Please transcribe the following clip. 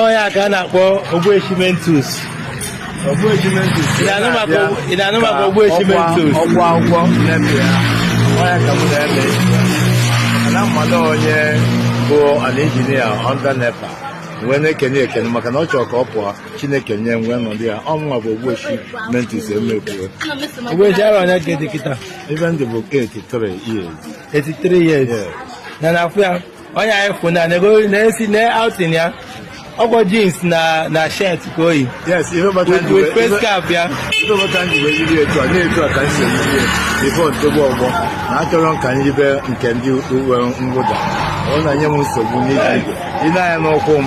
ọ ya ka a na-akpọ ogbueshi mentus ị na-anụ maka ogbu- ị na-anụ maka ogbueshi mentus ọgwụ akwụkwọ na-eme ya ọ ya ka m na-eme na mmadụ onye bụ an engineer under NEPA wee na-ekene ekene maka na ọ chọrọ ka ọ pụọ chineke nye m wee nọdụ ya ọ mụnwa bụ ogbueshi mentus emekwuo ogbueshi arọ one ka ị dị kịta ive m dị bụ 83 years 83 years Yes. na na-afụ ya onye anyị fụ na na-esi na outing ya ọ kwa jeans na na shirt ka o yi yes ihe kpata m ji with face cap ya ihe kpata m ji wee yiri etu a na etu a ka m si eyiri ife ntogbu ọgbọ na achọrọ m ka m yibe nke ndị uwe mwụda ọ na-enye m nsogbu n'iji igwe ị na-anya n'ụkwụ m